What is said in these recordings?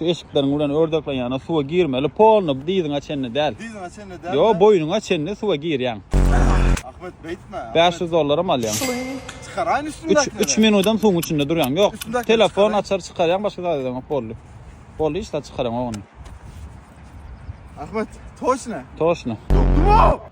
Şu eşikleriň bilen ördekleň ýanyna suwa girmeli polny dyzyňa çenli däl. Dyzyňa çenli däl. Ýok, boýnuňa çenli suwa girýäň. Ahmet beýtme. 500 dollaram alýaň. Çykaraýyn üstündäkileri. 3 minudam suwuň içinde durýaň. Ýok. Telefon açar çykarýaň başga zat edemok boldy. Boldy hiç zat çykaraň ogny. Ahmet, toşna. Toşna. Dogdum.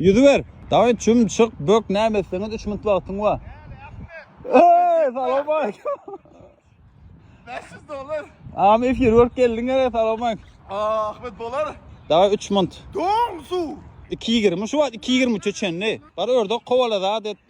Ýüzüber. Daway çüm çyk bök näme etseňiz 3 minut wagtyň bar. Eý, salam aýk. 500 dollar. Am efir görüp geldiň ýere salam aýk. Ahmet bolar. Daway 3 minut. Doň su. 2.20 şu wagt 2.23 çenli. Bar ördek kowala zat et.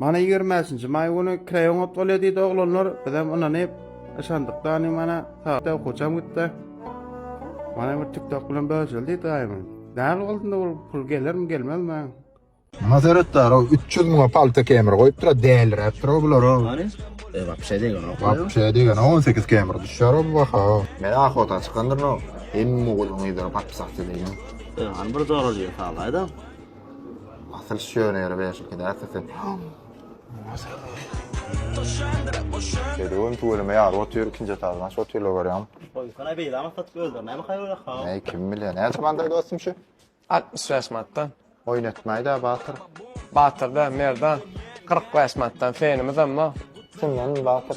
Mana ýigrimäşinji maý güni kraýoňat bolýa diýdi oglanlar, bizem ynanyp, yşandyk dany mana sagatda okuwçam gitdi. Mana bir tiktok bilen bölüşeli diýdi gaýymym. Näl boldy ol pul gelermi gelmezmi? Maňa seretdar o üç ýüz müňe palta kemir goýupdyra däliräp dur bular o. E wapşe degenok. Wapşe degenok on sekiz kemir düşer o baha. Men ahota çykandyryn o. Hemme ogulun gyzlary papsak deýin. E han bir zoralýa salaýda. Asyl şönere beşikide ata sen. Şeýle gün tüweleme ýaly otyr ikinji etaždan şu otyrlar görýäňmi? Goýsana beýle amat satyp öldürmämi haýyra ha. Näý kim bilýär. Näçe mandaý dostum şu? 65 manatdan. Oýnatmaýda batyr. Batyr da merdan 45 manatdan fenimiz emma. Şundan batyr.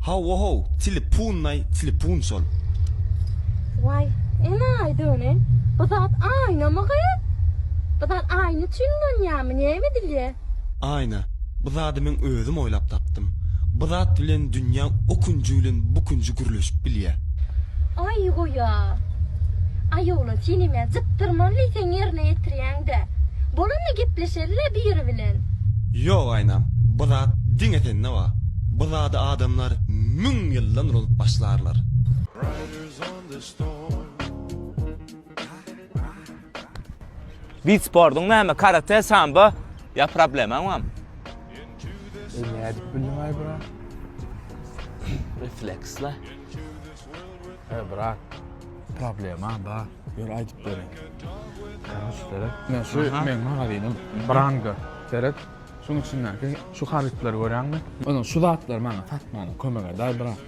Hawa-how, tilipunnaý, tilipun şol. Waý, enaýy döne, bu zat aýnamy gyz? Bu zat aýna üçin ulanýarmy, näme edilýär? Aýna, bu zady men özüm oýlap tapdym. Bu zat bilen dünýä o künji bilen bu künji gürleşip bilýär. Aý, goý-a. Aý, oglan, sen hem-ä jypdyrmaly diýseň ýerine ýetirýäň-dä. Bolanda gepleşeris. Şeýle biri bilen. Ýok aýnam, bu zat diňe sende bar. Bu zady adamlar müň ýyldan ululyp başlarlar. Beat sportuň näme karate sambo ýa problemaň bam. Eý nädip bildiňaý brat. Refleksle. He brat problema bar. Ýör aýdyp beriň. Seret. Men şu meň magazynym Branga. Seret. Şuň içindäki şu harytlary görýäňmi? Ony şu zatlary maňa satmaga kömek edäý brat.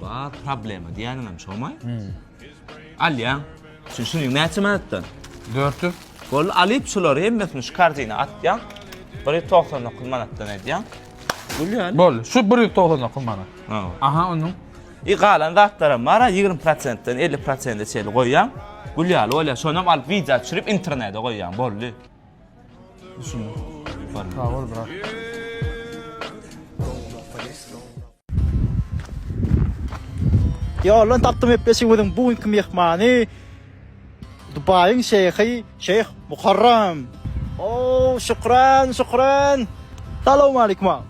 Bar problema diýýäniňem şomy? Alýaň. Şu şuny näçe manatdan? 400. Boldy, alyp şulary hemmesini şu korzinä atýaň. 199 manatdan edýäň. Gülýän. Boldy. Şu 199 manat. Hawa. Aha onuň I galan zatlaram bara ýigrimi prosentden elli prosende çenli goýýaň. Gül ýaly bolýar. Şonam alyp wideo düşürip internede goýýaň. Boldy. Düşündim. Sagol brat. Ýoldan tapdym gepleşigimiziň bu günki myhmany. Dubaýyň şeýhi şeýh Muharram. Ow şükran şükran. Salowmalikim aga.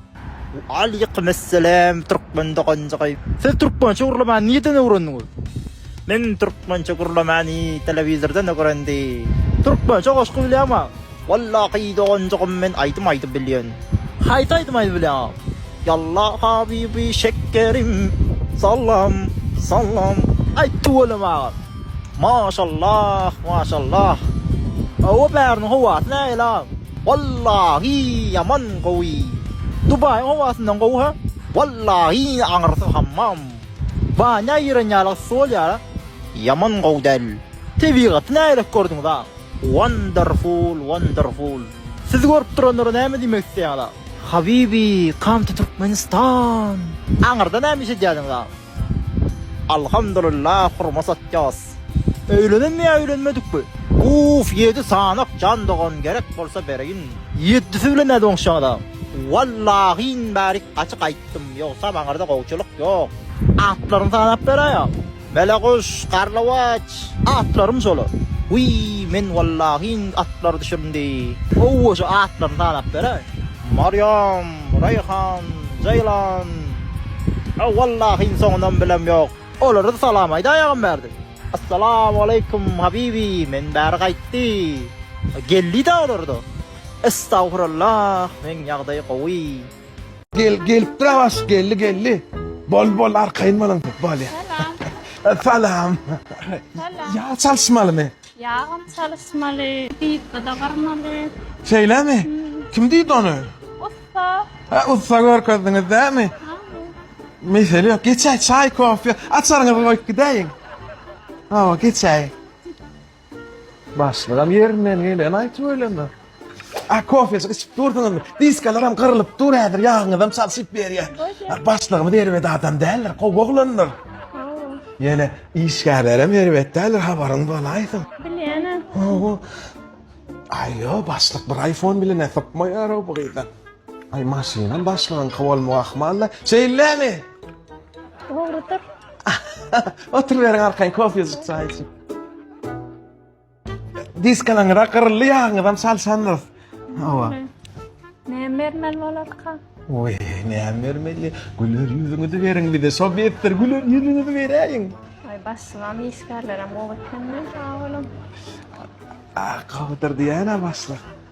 Waleýkimessalam türkmen doganjygy. Siz türkmençe gürlemani nirden öwrendiňiz? Men türkmençe gürlemani telewizordan ögrendi. Türkmençe goşgy bilýäňmi aga? Wallahy doganjygym men aýdym aýdyp bilýän. Haýsy aýdym aýdyp bilýäňa? Ýalla habibi şekkerim. Salam Salam Aý tüweleme aga. Maşallah Maşallah Hawa bäriniň howasy nähili aga? Wallahy ýaman gowy. Dubaýyň howasyndan gowy ha? Wallahy aňyrsyz hammam. Banýa giren ýaly yssy bolýar a? Ýaman gowy däl. Tebigaty nähili gördüňiz aga? Wonderful wonderful. Siz görüp duranlara näme diýmek isleýäňiz agam. Habibi come to Türkmenistan. Aňyrda näme iş edýädiňiz agam. Alhamdulillah hurma satýas. Öýlenenmi ýa öýlenmedikmi. Uuff ýedi sanak jan dogan gerek bolsa bereýin. Ýeddisi bilen nädip oňuşýaňyz agam. Wallahi in bärik gaty gaýtdym ýogsam aňyrda gowçylyk ýok. Atlaryny sanap beräý agam. Meleguş, Garlawaç, atlarym şolar. Wiý, men wallahi indi atlary düşürmdi. Gowaça atlaryny sanap beräý. Maryam, Reýhan, Jeýlan, a wallahi indi soňundan bilem ýok. Olara-da salam aýdaýagam bärde. Assalamu aleýkum, habibi, men bäri gaýtdy. Geldi-dä olar-da. Estagfurullah, meň ýagdaý gowy. Gel gelipdir Awaş geldi geldi. Bol bol arkaýyn boluň köp bol ya. Salam. Salam. Ya çalyşmaly mi? Yağım çalışmaly, diýipde de gyrmaly. Şeýle mi? Kim diýdi ony? Usta. Ha usta görkezdiňiz dämi? Mesele ýok. Geçäý çaý, kofe. Açaryňyzy goýup gidäýiň. Hawa, geçäý. Başlygam ýerinden geleni aýtyp öýleme. A kofejik içip dursuňyzmy? Diskalaram gyrylyp dur häzir ýagyňyzam çalşyp berýär. A başlygymyz erbet adam däldir, gowy oglandyr. Ýöne işgärlerem erbet däldir habaryň bolaýsyn. Bilýäne. Gowy. Aýo başlyk bir iPhone bilenä sypmaýar o bu gyza. Aý maşynam başlygyňky bolmagy ahmalla. Şeýlemi? Dogrudyr. Oturyberiň arkaýyn kofejik çaý içip. Diskalaňyza gyryldy ýagyňyzam salsandyr. Hawa. Ne bermeli bolarka? Oý, näme bermeli? Güler ýüzüňizi beriň bize. Şo betdir güler ýüzüňizi beräýiň. Ay başlamam işgärlerem gowy ekeni sag bolun. A, gowudyr diýýän-ä başlyk.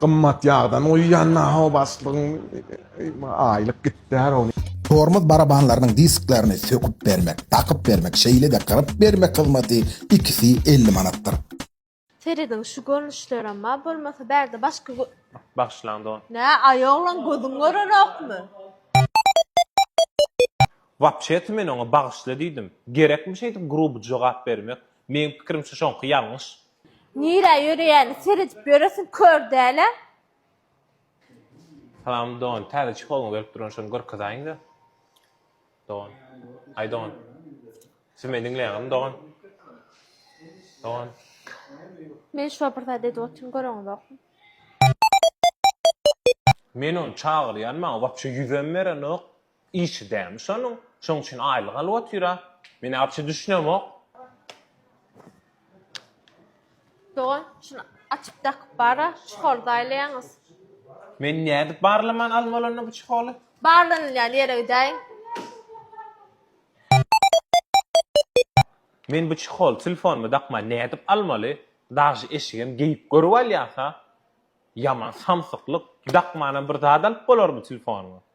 Gymmat ýagdan guýýan naho başlygyň aýlyk gitdär ony. Tormoz barabanlarynyň disklerini söküp bermek, dakyp bermek, şeýle-de gyryp bermek hyzmaty ikisi elli manatdyr. Serediň şu görnüşlerem bar bolmasa bärde başga gö. Bagyşlaň dogan. Nä aý oglan gözüň görenokmy. Wapşesi men oňa bagyşla diýdim. Gerekmi şeýdip gruby jogap bermek? Meň pikirimçe şoňky ýalňyş. Nirä ýöreýäni seredip ýöresiň kör dälä. Salam Don täze çeholňy berip duran şony görkezaýiňda Don Aý Don Siz meni diňleýäňizmi Don Don. Men şuňa bir zat edip otyryn göreňizokmy. Men ony çagyrýan maňa wapşe ýüzem berenok Işi dämi şonuň, şoň üçin aýlyk alyp otyra. Men arçy düşünemok. Dogan, şuny açyp dakyp bar-a, çyholy zaýlaýaňyz. Men nädip barlaman almaly onda bu çyholy? Barlanylýan ýere gidäýiň. Men bu çyholy telefonyma dakman nädip almaly? Daži eşigem geýip görüp alýas-a. Ýaman samsyklyk, dakmanam bir zat alyp bolarmy telefonyňa?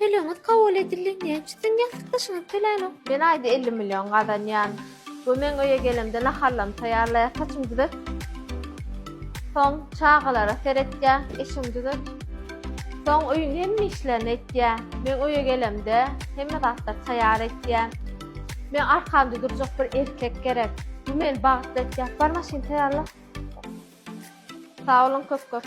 Tölegiňiz kabul edildi. Näme üçin siziň ýassykdaşyňyz tölänok? Men aýda elli million gazanýan we men öýe gelemde naharlarymy taýýarlaýar, saçymy düzet. Soň çagalara seretýär, eşigimi düzet. Soň öýüň hemme işlerini etýär. Men öýe gelemde hemme zatlary taýýar etýär. Meň arkamda durjak bir erkek gerek. Bu meni bagtly etýär. Bar maşyny taýýarla. Sag boluň köp-köp.